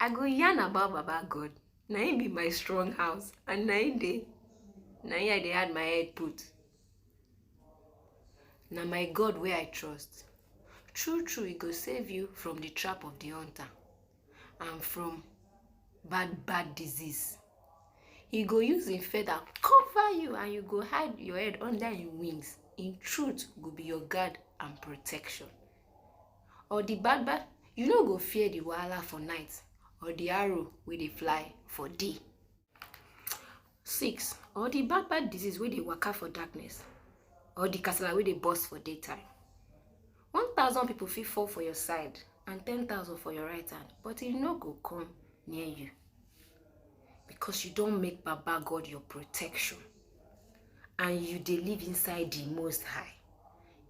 I go yarn about Baba God, na im be my strong house and na im dey na im I dey add my head put. Na my God wey I trust, true true e go save you from the trap of the hunter and from bad bad disease. He go use im feather cover you and you go hide your head under im wings. Im truth go be your guard and protection. Or the gbagba, you no go fear the wahala for night, or the arrow wey dey fly for day. Six, or the bad bad disease wey dey waka for darkness, or the kasala wey dey burst for daytime. One thousand people fit fall for your side and ten thousand for your right hand, but e no go come near you. because you don make Baba God your protection and you dey live inside the Most High.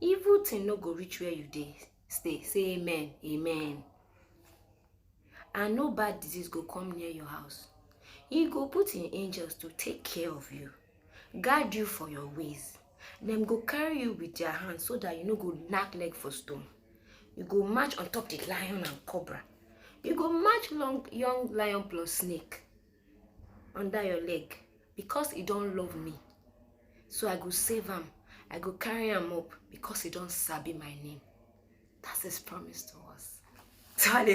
Evil thing no go reach where you dey stay. Say amen, amen. And no bad disease go come near your house. He go put in angels to take care of you, guard you for your ways. Dem go carry you with their hand so that you no go knack leg for stone. You go march on top the lion and cobra. You go march long young lion plus snake under your leg because he don't love me. So I go save him. I go carry him up because he don't sabi my name. That's his promise to us. So